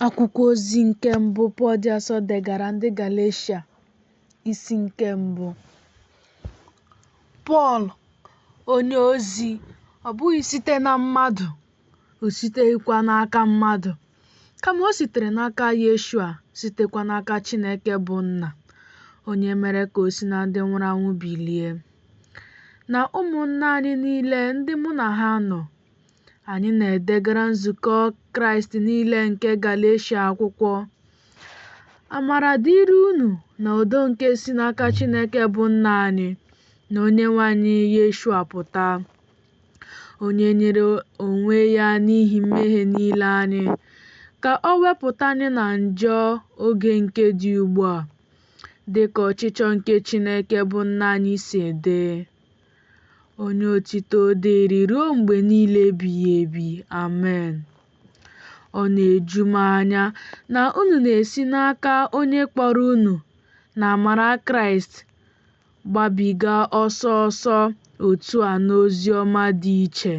Akwụkwọ ozi nke mbụ Pọl dị asọ degara ndị Galeshia isi nke mbụ. Pọl onye ozi ọ bụghị site na mmadụ o siteghịkwa n'aka mmadụ kama o sitere n'aka Yeshua sitekwa n'aka Chineke bụ Nna onye mere ka o si na ndị nwụrụ anwụ bilie na ụmụnna anyị niile ndị mụ na ha nọ Anyị na-edegara nzukọ Kraịst niile nke Galeshia akwụkwọ. Amara dịrị unu na udo nke si n'aka Chineke bụ Nna anyị na Onyenwe anyị Yeshua pụta, onye nyere onwe ya n'ihi mmehie niile anyị, ka o wepụta anyị na njọ oge nke dị ugbu a, dị ka ọchịchọ nke Chineke bụ Nna anyị si dị. Onye otito dịrị ruo mgbe niile ebighị ebi. Amen. Ọ na-eju m anya na unu na-esi n'aka onye kpọrọ unu na amara Kraịst gbabiga ọsọ ọsọ otu a n'ozi ọma dị iche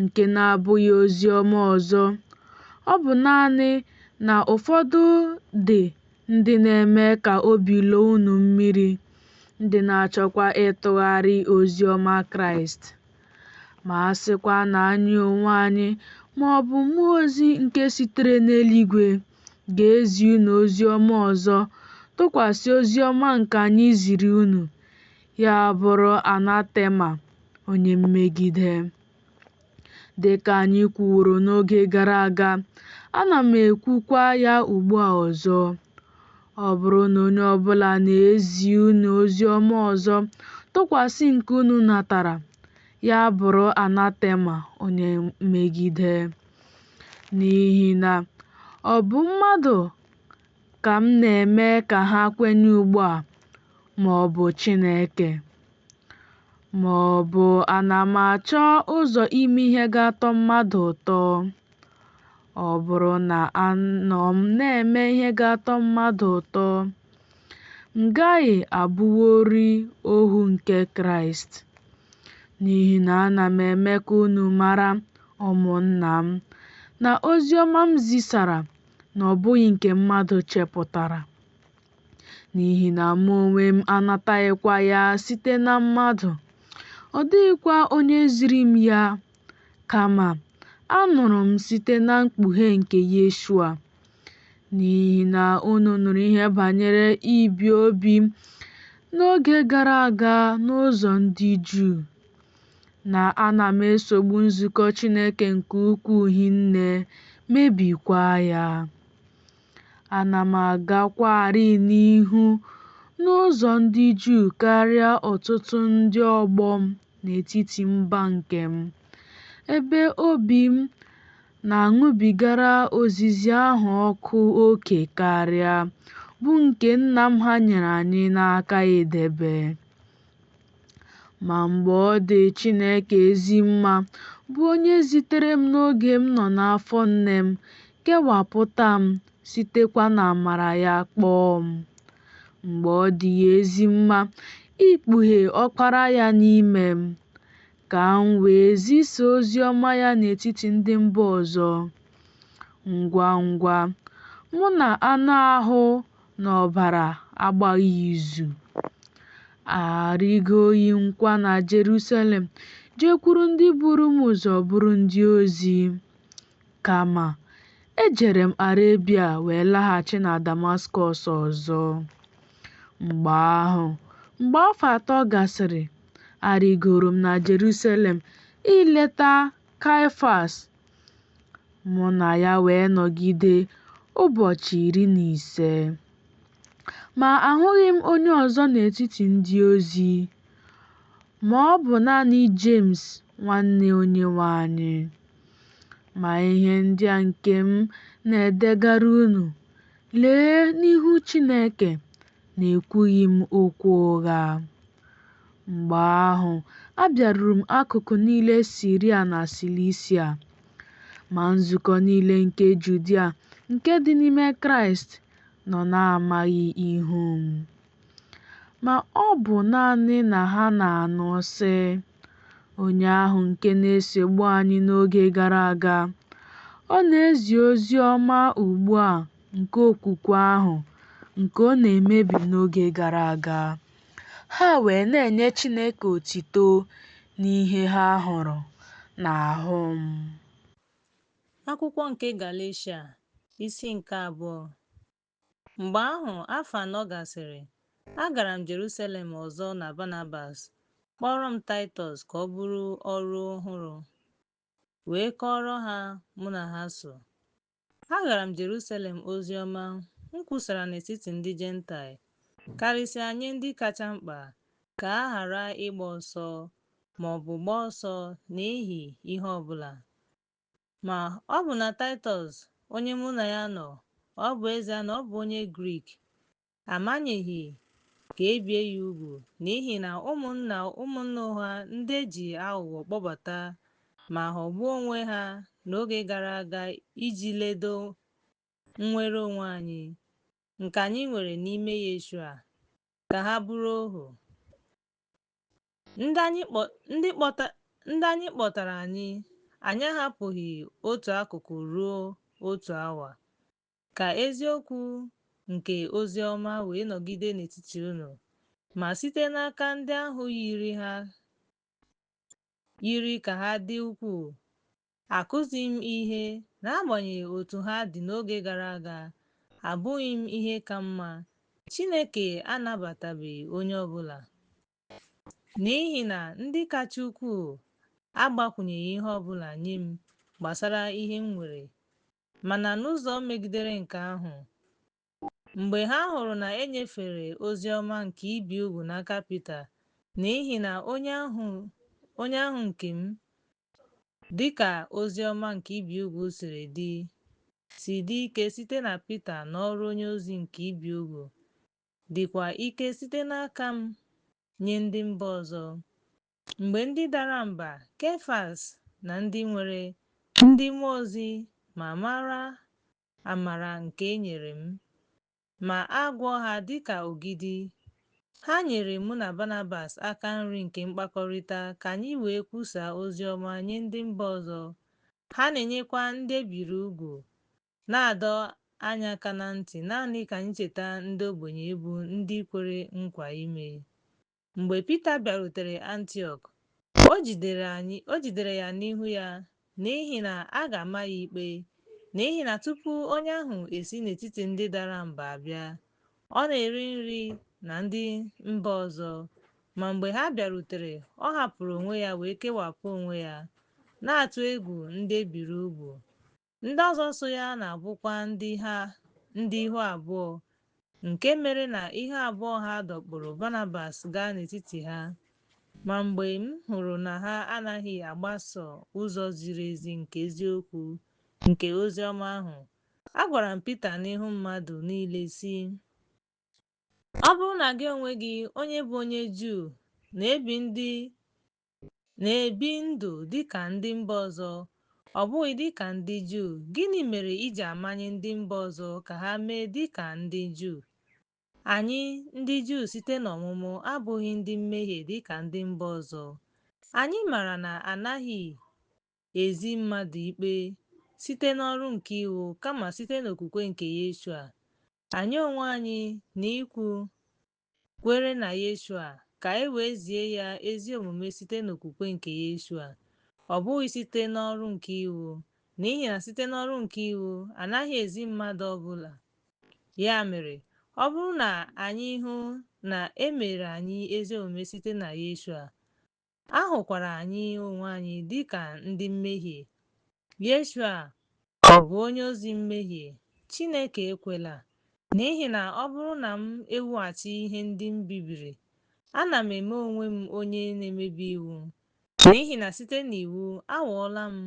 nke na-abụghị ozi ọma ọzọ. Ọ bụ naanị na ụfọdụ dị ndị na-eme ka obi lọọ unu mmiri, ndị na-achọkwa ịtụgharị ozi ọma Kraịst. Ma a sịkwa na anyị onwe anyị ma ọ bụ mmụọ ozi nke sitere n'eluigwe ga-ezi unu ozi ọma ọzọ tụkwasị ozi ọma nke anyị ziri unu, ya bụrụ anatema, onye mmegide. Dị ka anyị kwuworo n'oge gara aga, ana m ekwukwa ya ugbu a ọzọ, ọ bụrụ na onye ọ bụla na-ezi unu ozi ọma ọzọ tụkwasị nke unu natara, ya bụrụ anatema onye mmegide. N'ihi na ọ bụ mmadụ ka m na-eme ka ha kwenye ugbu a, ma ọ bụ Chineke? Ma ọ bụ ana m achọ ụzọ ime ihe ga-atọ mmadụ ụtọ. Ọ bụrụ na anọ m na-eme ihe ga-atọ mmadụ ụtọ, m gaghị abụworị ohu nke Kraịst. N'ihi na ana m eme ka unu mara, ụmụnna m, na ozi ọma m zisara na ọ bụghị nke mmadụ chepụtara. n'ihi na mụ onwe m anataghịkwa ya site na mmadụ, ọ dịghịkwa onye ziri m ya, kama anụrụ m site na mkpughe nke Yeshua. N'ihi na unu nụrụ ihe banyere ibi obi m n'oge gara aga n'ụzọ ndị Juu, na ana m esogbu nzukọ Chineke nke ukwuu hinne, mebikwa ya. Ana m agakwarị n'ihu n'ụzọ ndị Juu karịa ọtụtụ ndị ọgbọ m n'etiti mba nke m, ebe obi m na-aṅụbigara ozizi ahụ ọkụ oke karịa, bụ nke nna m ha nyere anyị n'aka idebe. Ma mgbe ọ dị Chineke ezi mma, bụ onye zitere m n'oge m nọ n'afọ nne m, kewapụta m, sitekwa n'amara ya kpọọ m. Mgbe ọ dị ya ezi mma ikpughe Ọkpara ya n'ime m, ka m wee zisa ozi ọma ya n'etiti ndị mba ọzọ. Ngwa ngwa, mụ na anụ ahụ na ọbara agbaghị izu, arịgoghị m kwa na Jerusalem jekwuru ndị buru m ụzọ bụrụ ndị ozi. Kama, ejere m Arebia wee laghachi na Damaskọs ọzọ. Mgbe ahụ, mgbe afọ atọ gasịrị, arịgoro m na Jerusalem ileta Kaịfas Mụ na ya wee nọgide ụbọchị iri na ise. Ma ahụghị m onye ọzọ n'etiti ndị ozi, ma ọ bụ naanị Jemes nwanne Onyenwe anyị. Ma ihe ndị a nke m na-edegara unu, lee, n'ihu Chineke, na ekwughị m okwu ụgha. Mgbe ahụ, abịaruru m akụkụ niile Siria na Silisia. Ma nzukọ niile nke Judia nke dị n'ime Kraịst nọ na-amaghị ihu m. Ma ọ bụ naanị na ha na-anụ sị, Onye ahụ nke na-esogbu anyị n'oge gara aga, ọ na-ezi ozi ọma ugbu a nke okwukwe ahụ nke ọ na-emebi n'oge gara aga, ha wee na-enye Chineke otito n'ihe ha hụrụ n'ahụ m. Akwụkwọ nke Galeshia, isi nke abụọ. Mgbe ahụ, afọ anọ gasịrị, agara m Jerusalem ọzọ na Banabas, kpọọrọ m Taịtọs ka ọ bụrụ ọrụ ọhụrụ, wee kọọrọ ha mụ na ha so. Agara m Jerusalem ozi ọma m kwusara n'etiti ndị Jentaịl, karịsịa nye ndị kacha mkpa, ka a ghara ịgba ọsọ, ma ọ bụ gbaa ọsọ n'ihi ihe ọ bụla. Ma, ọbụna Taịtọs, onye mụ na ya nọ, ọ bụ ezie na ọ bụ onye Grik, amanyeghị ka e bie ya ugwu n'ihi na ụmụnna ụmụnna ụgha ndị e ji aghụghọ kpọbata ma ghọgbuo onwe ha n'oge gara aga iji ledo nnwere onwe anyị nke anyị nwere n'ime Yeshua ka ha bụrụ ohu. Ndị anyị kpọtara anyị anyị ahapụghị otu akụkụ ruo otu awa. Ka eziokwu nke ozi ọma wee nọgide n'etiti unu, ma site n'aka ndị ahụ yiri ka ha dị ukwuu, akụzighị m ihe, n'agbanyeghị otu ha dị n'oge gara aga, abụghị m ihe ka mma. Chineke anabatabeghị onye ọ bụla, n'ihi na ndị kacha ukwuu agbakwụnyeghị ihe ọ bụla nye m gbasara ihe m nwere Mana n'ụzọ megidere nke ahụ, mgbe ha hụrụ na e nyefere ozi ọma nke ibi ugwu n'aka Pita, n'ihi na onye ahụ nke m, dị ka ozi ọma nke ibi ugwu siri dị, si dị ike site na Pita n'ọrụ onye ozi nke ibi ugwu, dịkwa ike site n'aka m nye ndị mba ọzọ, Mgbe ndị dara mba, Kefas na ndị nwere ndị mmụọ ozi ma mara amara nke e nyere m, ma a gụọ ha dị ka ogidi, ha nyere mụ na Banabas aka nri nke mkpakọrịta ka anyị wee kwusaa ozi ọma nye ndị mba ọzọ, ha na-enyekwa ndị e biri ugwu, na-adọ anyị aka na ntị naanị ka anyị cheta ndị ogbenye bụ ndị kwere nkwa ime Mgbe Pita bịarutere Antiọk, o jidere ya n'ihu ya, n'ihi na a ga-ama ya ikpe, n'ihi na tupu onye ahụ esi n'etiti ndị dara mba abịa, ọ na-eri nri na ndị mba ọzọ. Ma mgbe ha bịarutere, ọ hapụrụ onwe ya wee kewapụ onwe ya, na-atụ egwu ndị e biri ugwu. Ndị ọzọ so ya na-abụkwa ndị ihu abụọ, nke mere na ihu abụọ ha dọkpụrụ Banabas gaa n'etiti ha. Ma mgbe m hụrụ na ha anaghị agbaso ụzọ ziri ezi nke eziokwu nke ozi ọma ahụ, agwara m Pita n'ihu mmadụ niile, sị, Ọ bụrụ na gị onwe gị, onye bụ onye Juu, na-ebi ndụ Na-ebi ndụ dị ka ndị mba ọzọ, ọ bụghị dị ka ndị Juu. Gịnị mere i ji amanye ndị mba ọzọ ka ha mee dị ka ndị Juu? Anyị, ndị Juu site n'ọmụmụ, abụghị ndị mmehie dị ka ndị mba ọzọ. Anyị maara na a naghị ezi mmadụ ikpe site n'ọrụ nke iwu kama site n'okwukwe nke Yeshua. Anyị onwe anyị, na ikwu kwere na Yeshua ka e wee zie ya ezi omume site n'okwukwe nke Yeshua, ọ bụghị site n'ọrụ nke iwu, n'ihi na site n'ọrụ nke iwu a naghị ezi mmadụ ọ bụla. Ya mere, ọ bụrụ na anyị hụ na e mere anyị ezi omume site na Yeshua, A hụkwara anyị onwe anyị dị ka ndị mmehie. Yeshua ọ bụ onye ozi mmehie? Chineke ekwela, n'ihi na ọ bụrụ na m ewughachi ihe ndị m bibiri, ana m eme onwe m onye na-emebi iwu, n'ihi na site n'iwu anwụọla m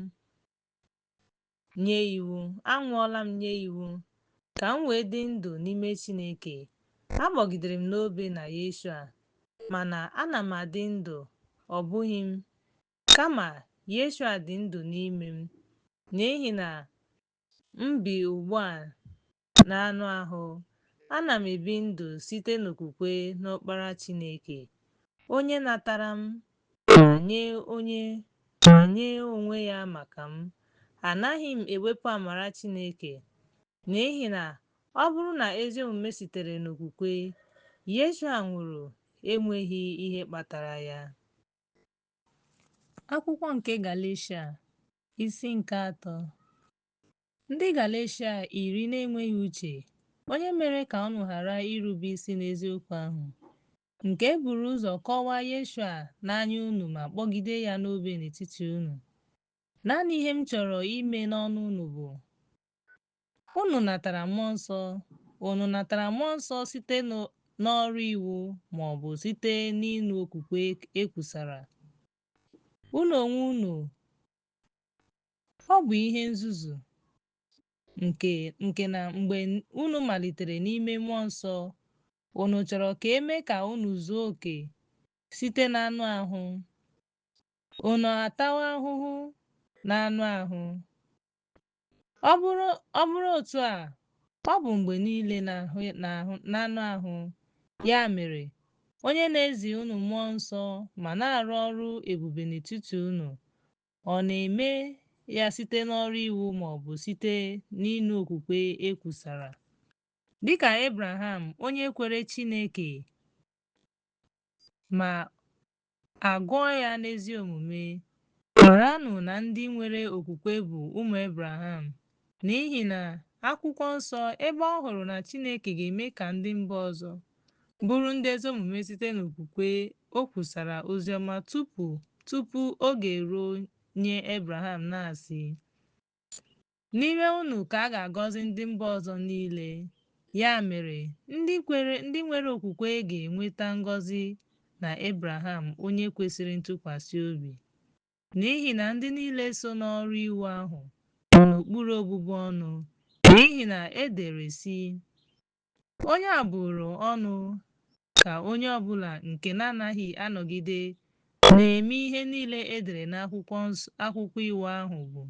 nye iwu anwụọla m nye iwu ka m wee dị ndụ n'ime Chineke agbọgidere m n'obe na Yeshua mana ana m adị ndụ ọ bụghị m kama Yeshua dị ndụ n'ime m n'ihi na m bi ugbu a N'anụ ahụ, ana m ebi ndụ site n'okwukwe n'Ọkpara Chineke, onye natara m ma nye onwe ya maka m. Anaghị m ewepụ amara Chineke, n'ihi na ọ bụrụ na ezi omume sitere n'okwukwe, Yeshua nwụrụ enweghị ihe kpatara ya. Akwụkwọ nke Galeshia, isi nke atọ. Ndị Galeshia iri na-enweghị uche, onye mere ka unu ghara irube isi n'eziokwu ahụ, nke e buru ụzọ kọwaa Yeshua n'anya unu ma kpọgide ya n'obe n'etiti unu. Naanị ihe m chọrọ ime n'ọnụ unu bụ, Unu natara Mmụọ Nsọ? Unu natara Mmụọ Nsọ site n'ọrụ iwu ma ọ bụ site n'ịnụ okwukwe e kwusara? Unu onwe unu Ọ bụ ihe nzuzu nke na mgbe unu malitere n'ime mmụọ nsọ, unu chọrọ ka e mee ka unu zuo oke site n'anụ ahụ. Unu atawa ahụhụ n'anụ ahụ. Ọ bụrụ otu a, ọ bụ mgbe niile n'anụ ahụ. Ya mere, onye na-ezi unu mmụọ nsọ ma na-arụ ọrụ ebube n'etiti unu Ọ na-eme ya site n'ọrụ iwu ma ọ bụ site n'ịnụ okwukwe e kwusara. Dị ka Abraham, onye kwere Chineke ma a gụọ ya n'ezi omume, maranụ na ndị nwere okwukwe bụ ụmụ Abraham N'ihi na Akwụkwọ Nsọ, ebe ọ hụrụ na Chineke ga-eme ka ndị mba ọzọ bụrụ ndị ezi omume site n'okwukwe, o kwusara ozi ọma tupu tupu oge eruo nye Abraham, na-asị, N'ime unu ka a ga-agọzi ndị mba ọzọ niile. Ya mere, ndị kwere, ndị nwere okwukwe ga-enweta ngọzi na Abraham onye kwesịrị ntụkwasị obi. N'ihi na ndị niile so n'ọrụ iwu ahụ nọ n'okpuru ọbụbụ ọnụ, n'ihi na e dere, sị, Onye a bụrụ ọnụ ka onye ọ bụla nke na-anaghị anọgide na-eme ihe niile e dere n'akwụkwọ iwu ahụ bụ.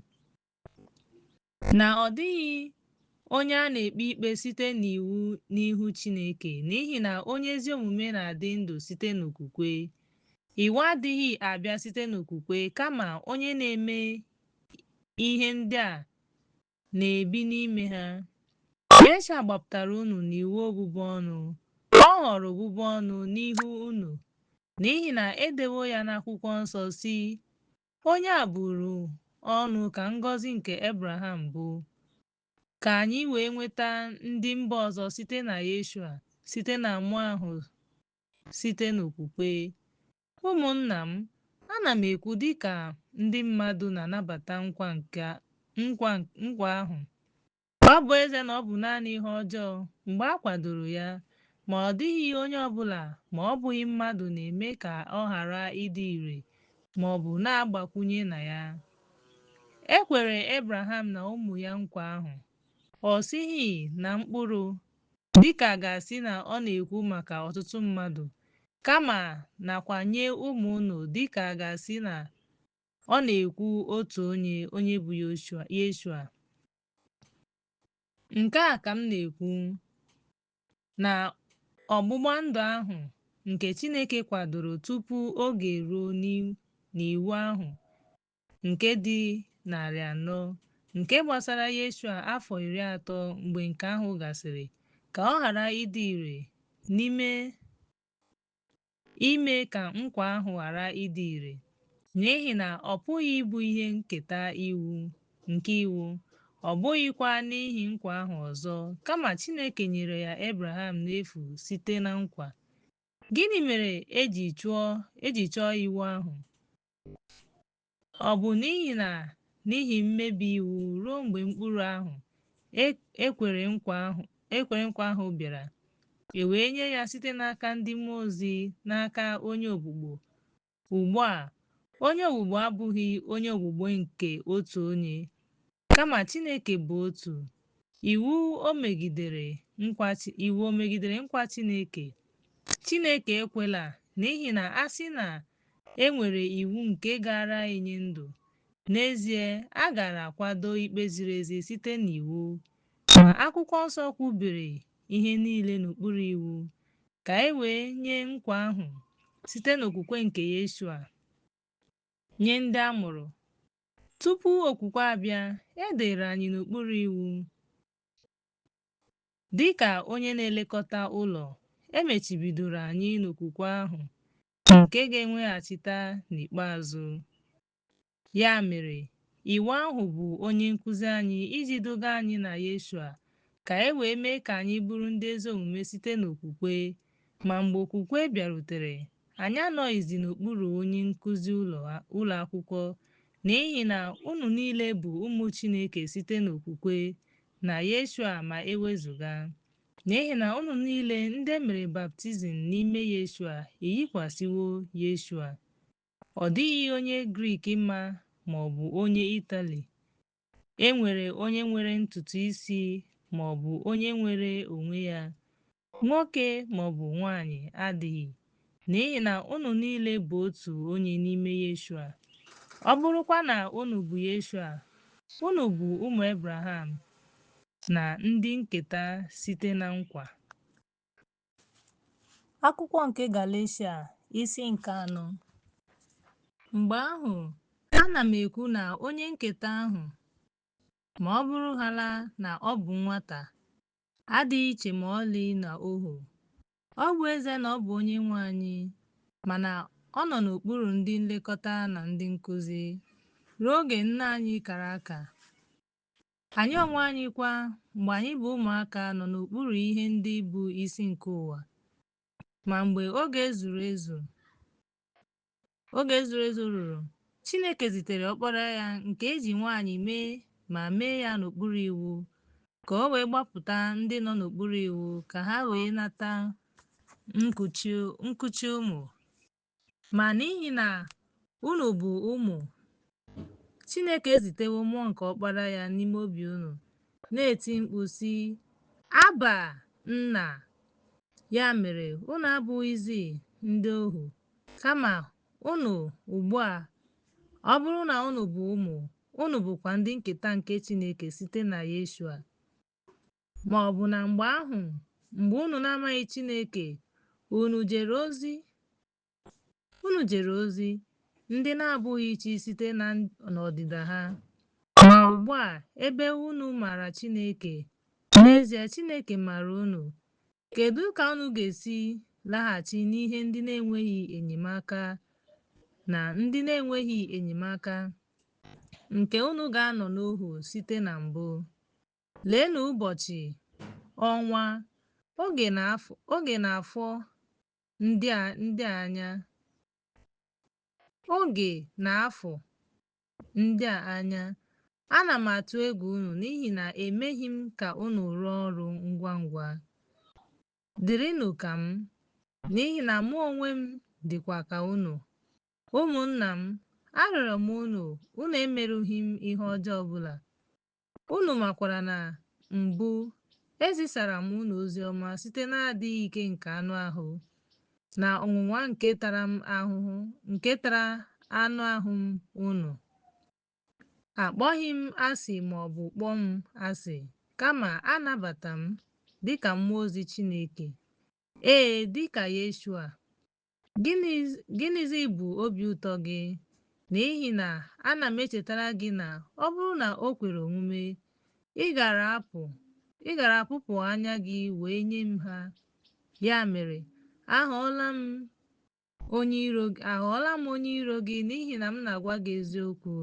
Na ọ dịghị onye a na-ekpe ikpe site n'iwu n'ihu Chineke, n'ihi na onye ezi omume na-adị ndụ site n'okwukwe. Iwu adịghị abịa site n'okwukwe, kama onye na-eme ihe ndị a na-ebi n'ime ha. Yeshua gbapụtara unu n'iwu ọbụbụ ọnụ, ọ ghọrọ ọbụbụ ọnụ n'ihu unu, n'ihi na edewo ya n'akwụkwọ nsọ sị, Onye a bụrụ ọnụ ka ngọzi nke Abraham bụ, ka anyị wee nweta ndị mba ọzọ site na Yeshua, site na Mmụọ ahụ site n'okwukwe. Ụmụnna m, ana m ekwu dị ka ndị mmadụ na-anabata nkwa nke nkwa nkwa ahụ, Ọ bụ ezie na ọ bụ naanị ihe ọjọọ mgbe a kwadoro ya, ma ọ dịghị onye ọ bụla ma ọ bụghị mmadụ na-eme ka ọ ghara ịdị ire ma ọ bụ na-agbakwụnye na ya. E kwere Abraham na ụmụ ya nkwa ahụ, ọ sịghị na mkpụrụ, dị ka a ga-asị na ọ na-ekwu maka ọtụtụ mmadụ, kama nakwa nye ụmụ unu dị ka a ga-asị na ọ na-ekwu otu onye, onye bụ Yeshua. Nke a ka m na-ekwu na ọgbụgba ndụ ahụ nke Chineke kwadoro tupu oge eruo n'iwu ahụ nke dị narị anọ nke gbasara Yeshua afọ iri atọ mgbe nke ahụ gasịrị ka ọ ghara ịdị ire n'ime ime ka nkwa ahụ ghara ịdị ire, n'ihi na ọ pụghị ịbụ ihe nketa iwu nke iwu, ọ bụghịkwa n'ihi nkwa ahụ ọzọ, kama Chineke nyere ya Abraham n'efu site na nkwa. Gịnị mere e ji chụọ e ji chọọ iwu ahụ? Ọ bụ n'ihi na n'ihi mmebi iwu ruo mgbe mkpụrụ ahụ e kwere nkwa ahụ bịara, e wee nye ya site n'aka ndị mmụọ ozi n'aka onye ogbugbo. Ugbu a, onye ogbugbo abụghị onye ogbugbo nke otu onye, Kama Chineke bụ otu. Iwu o megidere nkwa Chineke? Chineke ekwela n'ihi na a sị na e nwere iwu nke gaara enye ndụ, n'ezie a gaara akwado ikpe ziri ezi site n'iwu. Ma Akwụkwọ Nsọ kwubiri ihe niile n'okpuru iwu ka e wee nye nkwa ahụ site n'okwukwe nke Yeshua nye ndị a mụrụ Tupu okwukwe abịa, e dere anyị n'okpuru iwu. Dị ka onye na-elekọta ụlọ, e mechibidoro anyị n'okwukwe ahụ nke ga-enweghachita n'ikpeazụ. Ya mere, Iwu ahụ bụ onye nkụzi anyị iji duga anyị na Yeshua ka e wee mee ka anyị bụrụ ndị ezi omume site n'okwukwe Ma mgbe okwukwe bịarutere, anyị anọghịzi n'okpuru onye nkuzi ụlọ akwụkwọ, n'ihi na unu niile bụ ụmụ Chineke site n'okwukwe na Yeshua ma e wezụga. N'ihi na unu niile ndị e mere baptizim n'ime Yeshua eyikwasịwo Yeshua. Ọ dịghị onye Grik ma ma ọ bụ onye Itali, e nwere onye nwere ntutu isi ma ọ bụ onye nwere onwe ya, Nwoke ma ọ bụ nwanyị adịghị, n'ihi na unu niile bụ otu onye n'ime Yeshua. Ọ bụrụkwa na unu bụ Yeshua, unu bụ ụmụ Ebraham na ndị nketa site na nkwa. Akwụkwọ nke Galeshia isi nke anọ Mgbe ahụ, ana m ekwu na onye nketa ahụ, ma ọ bụrụhaala na ọ bụ nwata, adịghị iche ma ọlị na ohu. Ọ bụ ezie na ọ bụ onye nwe anyị, mana ọ nọ n'okpuru ndị nlekọta na ndị nkụzi ruo oge nna anyị kara aka. Anyị onwe anyị kwa, mgbe anyị bụ ụmụaka, nọ n'okpuru ihe ndị bụ isi nke ụwa. Ma mgbe oge zuru ezu, Oge zuru ezu ruru, Chineke zitere Ọkpara ya nke e ji nwaanyị mee ma mee ya n'okpuru iwu, ka o wee gbapụta ndị nọ n'okpuru iwu ka ha wee nata nkuchi ụmụ. Ma n'ihi na unu bụ ụmụ, Chineke ezitewo mmụọ nke ọkpara ya n'ime obi unu, na-eti mkpu sị, Abba, Nna! Ya mere, unu abụghịzi ndị ohu, kama unu ugbu a, ọ bụrụ na unu bụ ụmụ, unu bụkwa ndị nketa nke Chineke site na Yeshua. Ma ọ bụ na mgbe ahụ, mgbe unu na-amaghị Chineke, unu jere ozi Unu jere ozi ndị na-abụghị chi site n'ọdịda ha. Ma ugbu a, ebe unu maara Chineke, n'ezie Chineke maara unu, kedu ka unu ga-esi laghachi n'ihe ndị na-enweghị enyemaka na ndị na-enweghị enyemaka nke unu ga-anọ n'ohu site na mbụ? Leenụ ụbọchị, ọnwa, oge na afọ ndị a ndị anya oge na afọ ndị a anya ana m atụ egwu unu n'ihi na emeghị m ka unu rụọ ọrụ ngwa ngwa dịrịnụ ka m n'ihi na mụ onwe m dịkwa ka unu ụmụnna m arịọrọ m unu unu emerụghị m ihe ọjọọ ọbụla Unu makwara na mbụ, ezisara m unu ozi ọma site n'adịghị ike nke anụ ahụ, na ọnwụnwa nke tara m ahụhụ, nke tara anụ ahụ m, unu akpọghị m asị ma ọ bụ kpọọ m asị, kama anabata m dịka mmụọ ozi Chineke, ee, dịka Yeshua, Gịnịzi bụ obi ụtọ gị? N'ihi na ana m echetara gị na ọ bụrụ na o kwere omume, ị gara apụpụ anya gị wee nye m ha. Ya mere, aghọọla m onye iro gị n'ihi na m na-agwa gị eziokwu.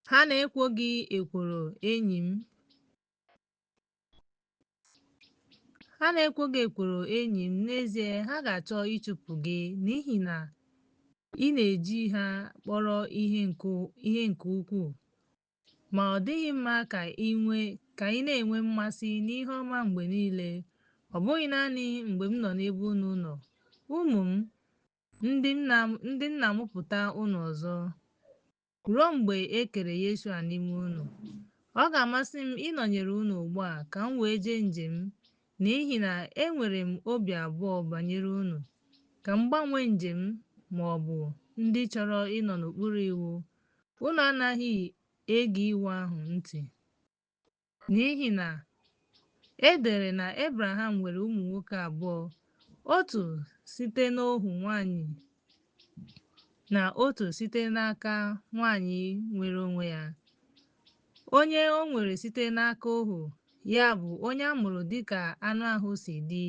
Ha na-ekwo gị ekworo, enyi m. Ha na-ekwo gị ekworo enyi m, n'ezie ha ga-achọ ịchụpụ gị n'ihi na ị na-eji ha kpọrọ ihe nke ukwuu. Ma ọ dịghị mma ka ị nwee ka ị na-enwe mmasị n'ihe ọma mgbe niile, ọ bụghị naanị mgbe m nọ n'ebe unu nọ, ụmụ m, ndị m na-amụpụta unu ọzọ. Ruo mgbe e kere Yeshua n'ime unu, ọ ga-amasị m ịnọnyere unu ugbu a ka m wee jee njem n'ihi na enwere m obi abụọ banyere unu. Ka m gbanwee njem ma ọ bụ ndị chọrọ ịnọ n'okpuru iwu, unu anaghị ege iwu ahụ ntị. N'ihi na e dere na Ebreham nwere ụmụ nwoke abụọ, otu site n'ohu nwanyị na otu site n'aka nwanyị nwere onwe ya. Onye o nwere site n'aka ohu ya bụ onye a mụrụ dịka anụ ahụ si dị,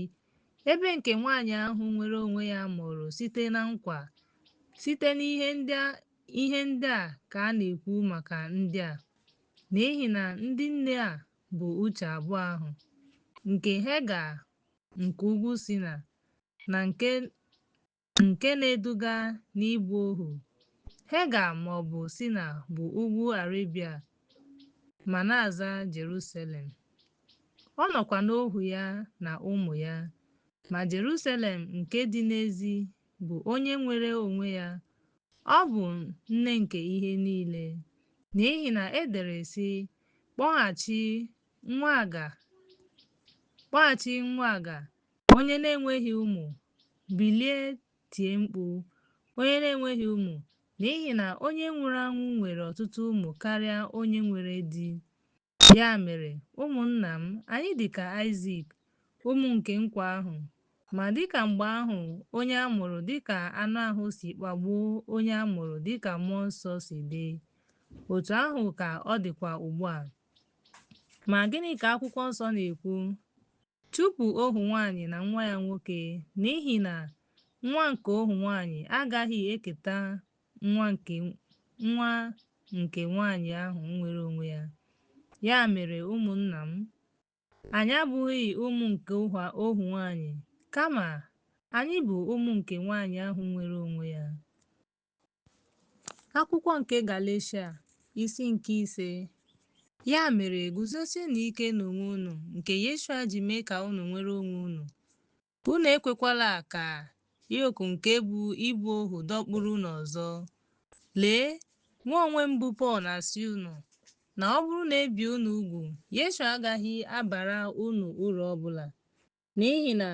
ebe nke nwanyị ahụ nwere onwe ya mụrụ site na nkwa. Site n'ihe ndị a ka a na-ekwu maka ndị a. N'ihi na ndị nne a bụ uche abụọ ahụ, nke Hega nke ugwu Sina na nke na-eduga n'ịbụ ohu. Hega ma ọ bụ Sina bụ ugwu Arebia ma na-aza Jerusalem. Ọ nọkwa n'ohu ya na ụmụ ya, ma Jerusalem nke dị n'ezi bụ onye nwere onwe ya Ọ bụ nne nke ihe niile, n'ihi na e dere sị, kpọghachi nwa aga onye na-enweghị ụmụ bilie tie mkpu onye na-enweghị ụmụ n'ihi na onye nwụrụ anwụ nwere ọtụtụ ụmụ karịa onye nwere di Ya mere, ụmụnna m, anyị dị ka Aịzik, ụmụ nke nkwa ahụ. Ma dị ka mgbe ahụ onye a mụrụ dị ka anụ ahụ si kpagbuo onye a mụrụ dị ka mmụọ nsọ si dị, otu ahụ ka ọ dịkwa ugbu a. Ma gịnị ka akwụkwọ nsọ na-ekwu? Chụpụ ohu nwaanyị na nwa ya nwoke, n'ihi na nwa nke ohu nwaanyị agaghị eketa nwa nke nwaanyị ahụ nwere onwe ya. Ya mere, ụmụnna m, anyị abụghị ụmụ nke ohu nwaanyị, kama anyị bụ ụmụ nke nwaanyị ahụ nwere onwe ya. Akwụkwọ nke Galeshia isi nke ise ya mere guzosienụ ike n'onwe unu nke Yeshua ji mee ka unu nwere onwe unu Unu ekwekwala ka yok nke bụ ịbụ ohu dọkpụrụ unu ọzọ. Lee, mụ onwe m bụ Pọl na-asị unu na ọ bụrụ na e bie unu ugwu, Yeshua agaghị abara unu uru ọ bụla. N'ihi na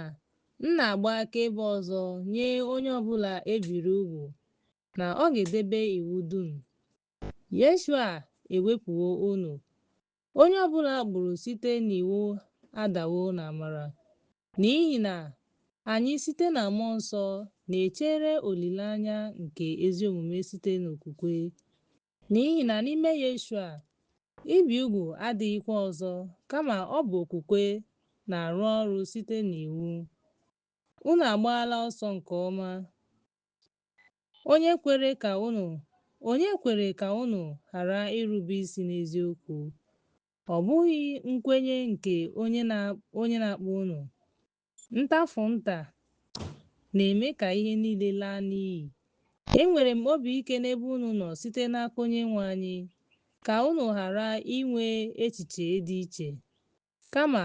m na-agba akaebe ọzọ nye onye ọ bụla e biri ugwu na ọ ga-edebe iwu dum. Yeshua ewepụwo unu. Onye ọ bụla a kpụrụ site n'iwu adawo n'amara. N'ihi na anyị site na Mmụọ Nsọ na-echere olileanya nke ezi omume site n'okwukwe. N'ihi na n'ime Yeshua, ibi ugwu adịghịkwa ọzọ, kama ọ bụ okwukwe na-arụ ọrụ site n'iwu. Unu agbaala ọsọ nke ọma. Onye kwere ka unu ghara irube isi n'eziokwu? Ọ bụghị nkwenye nke onye na-akpọ unu. Ntafụ nta na-eme ka ihe niile laa n'iyi. Enwere m obi ike n'ebe unu nọ site n'aka Onyenwe anyị, ka unu ghara inwe echiche dị iche. Kama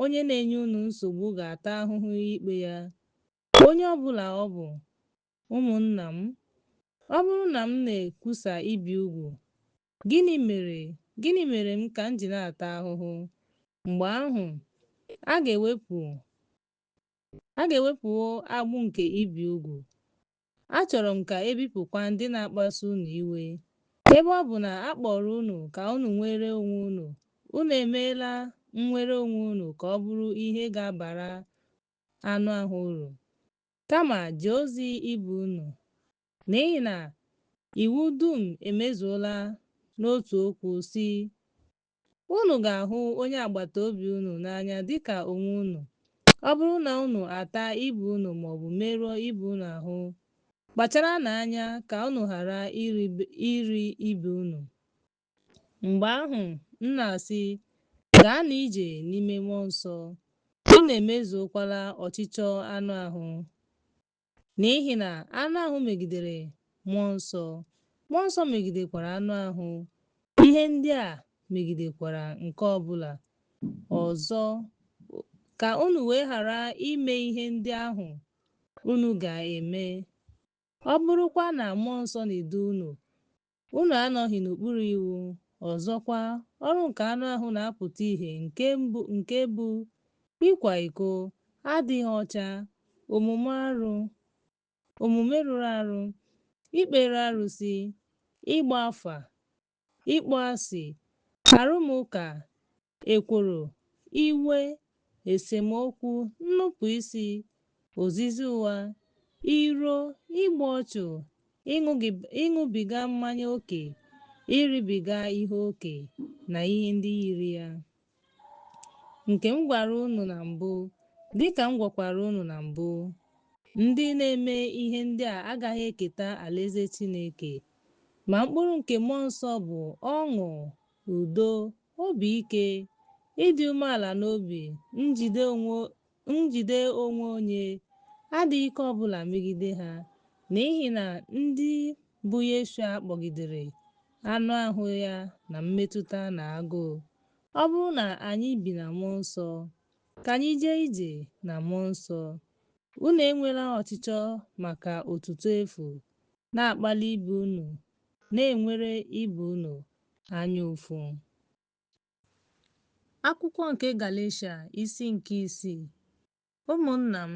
onye na-enye unu nsogbu ga-ata ahụhụ ikpe ya, onye ọ bụla ọ bụ. Ụmụnna m, ọ bụrụ na m na-ekwusa ibi ugwu, Gịnị mere m ka m ji na-ata ahụhụ? Mgbe ahụ, a ga-ewepụwo agbụ nke ibi ugwu. Achọrọ m ka e bipụkwa ndị na-akpasu unu iwe. Ebe ọ bụ na a kpọrọ unu ka unu nwere onwe unu, unu emeela nnwere onwe unu ka ọ bụrụ ihe ga-abara anụ ahụ uru, kama jee ozi ibe unu, N'ihi na iwu dum emezuola n'otu okwu, sị, Unu ga-ahụ onye agbata obi unu n'anya dị ka onwe unu. Ọ bụrụ na unu ataa ibe unu ma ọ bụ merụọ ibe unu ahụ, kpacharanụ anya ka unu ghara iri ibe unu. Mgbe ahụ, m na-asị, Gaanụ ije n'ime mmụọ nsọ, unu emezuokwala ọchịchọ anụ ahụ. N'ihi na anụ ahụ megidere mmụọ nsọ, mmụọ nsọ megidekwara anụ ahụ, ihe ndị a megidekwara nke ọ bụla ọzọ, ka unu wee ghara ime ihe ndị ahụ unu ga-eme. Ọ bụrụkwa na mmụọ nsọ na-edu unu, Unu anọghị n'okpuru iwu. Ọzọkwa, ọrụ nke anụ ahụ na-apụta ihe nke bụ ịkwa iko, adịghị ọcha, omume rụrụ arụ, ikpere arụsị, ịgba afa, ịkpọasị, arụmụka, Ekworo, iwe, esemokwu, nnupụisi, ozizi ụgha, iro, igbu ọchụ, ịṅụbiga mmanya oke, iribiga ihe oke, na ihe ndị yiri ya, nke m gwara unu na mbụ, dị ka m gwakwara unu na mbụ, ndị na-eme ihe ndị a agaghị eketa alaeze Chineke. Ma mkpụrụ nke mmụọ nsọ bụ ọṅụ, udo, Obi ike, ịdị umeala n'obi, njide onwe onye, adịghị ike ọ bụla megide ha, n'ihi na ndị bụ Yeshua kpọgidere anụ ahụ ya na mmetụta na agụụ. Ọ bụrụ na anyị bi na Mmụọ Nsọ, ka anyị jee ije na Mmụọ Nsọ. Unu enwela ọchịchọ maka otuto efu na-akpali ibe unu na-enwere ibe unu anya ụfụ. Akwụkwọ nke Galeshia isi nke isii Ụmụnna m,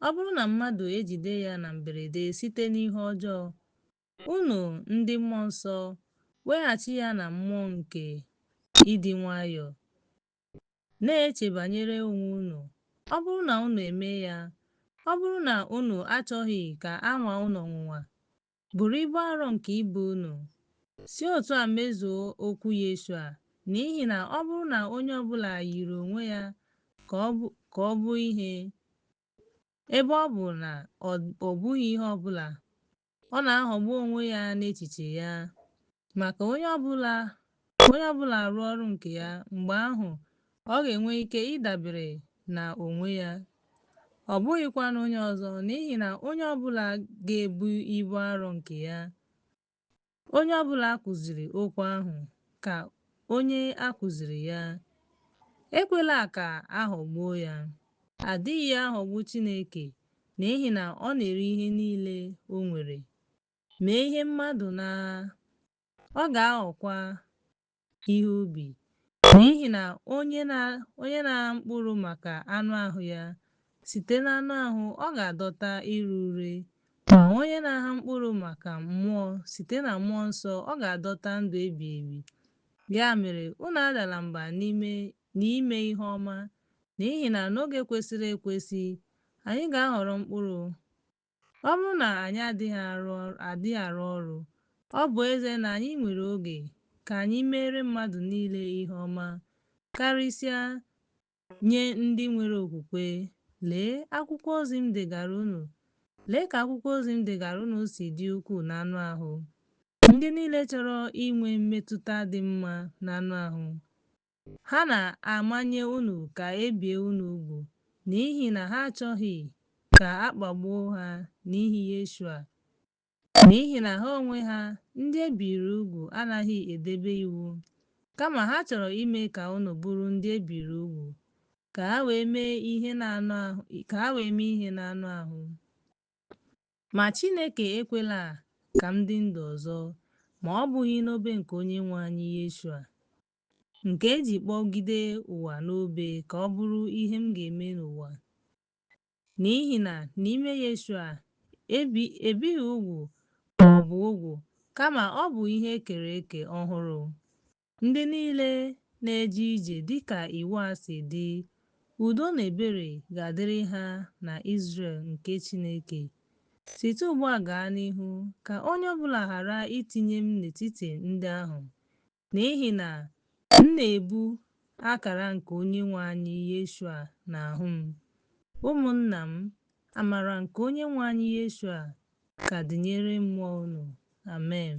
ọ bụrụ na mmadụ ejide ya na mberede site n'ihe ọjọọ, unu ndị Mmụọ Nsọ, weghachi ya na mmụọ nke ịdị nwayọọ, na-eche banyere onwe unu, ọ bụrụ na unu emee ya, ọ bụrụ na unu achọghị ka a nwaa unu ọnwụnwa, Buru ibu arọ nke ibe unu, si otu a mezuo okwu Yeshua, n'ihi na ọ bụrụ na onye ọ bụla yiri onwe ya ka ọ bụ ka ọ bụ ihe, ebe ọ bụ na ọ ọ bụghị ihe ọ bụla, ọ na-aghọgbu onwe ya n'echiche ya. Ma ka onye ọ bụla Ka onye ọ bụla rụọ ọrụ nke ya, mgbe ahụ ọ ga-enwe ike ịdabere na onwe ya, ọ bụghịkwa n'onye ọzọ, n'ihi na onye ọ bụla ga-ebu ibu arọ nke ya. Onye ọ bụla a kụziri okwu ahụ, ka onye a kụziri ya. Ekwela ka a ghọgbuo ya. A dịghị aghọgbu Chineke, n'ihi na ọ na-ere ihe niile o nwere. Mee ihe mmadụ na, ọ ga-aghọkwa ihe ubi, n'ihi na onye na onye na-agha mkpụrụ maka anụ ahụ ya, site n'anụ ahụ ọ ga-adọta ire ure, ma onye na-agha mkpụrụ maka mmụọ, site na Mmụọ Nsọ ọ ga-adọta ndụ ebighị ebi. Ya mere, unu adala mba n'ime n'ime ihe ọma, n'ihi na n'oge kwesịrị ekwesị, anyị ga-aghọrọ mkpụrụ, Ọ bụrụ na anyị adịghị arụ adịghị arụ ọrụ, ọ bụ ezie na anyị nwere oge ka anyị meere mmadụ niile ihe ọma, karịsịa nye ndị nwere okwukwe, lee akwụkwọ ozi m degaara unu, lee ka akwụkwọ ozi m degaara unu si dị ukwuu n'anụ ahụ. Ndị niile chọrọ inwe mmetụta dị mma n'anụ ahụ Ha na-amanye unu ka e bie unu ugwu n'ihi na ha achọghị ka a kpagbuo ha n'ihi Yeshua, n'ihi na ha onwe ha, ndị e biri ugwu, anaghị edebe iwu. Kama ha chọrọ ime ka unu bụrụ ndị e biri ugwu, ka ha wee mee ihe n'anụ ahụ, ka ha wee mee ihe n'anụ ahụ. Ma Chineke ekwela ka m dị ndụ ọzọ ma ọ bụghị n'obe nke Onyenwe anyị Yeshua. nke e ji kpọgide ụwa n'obe ka ọ bụrụ ihe m ga-eme n'ụwa. N'ihi na n'ime Yeshua, ebighị ugwu ma ọ bụ ugwu, kama ọ bụ ihe e kere eke ọhụrụ. Ndị niile na-eje ije dị ka iwu a si dị, udo na ebere ga-adịrị ha na Izrel nke Chineke. Site ugbu a gaa n'ihu, ka onye ọ bụla ghara itinye m n'etiti ndị ahụ, N'ihi na m na-ebu akara nke Onyenwe anyị Yeshua n'ahụ m. Ụmụnna m, amara nke Onyenwe anyị Yeshua ka dịnyere mmụọ unu. Amen.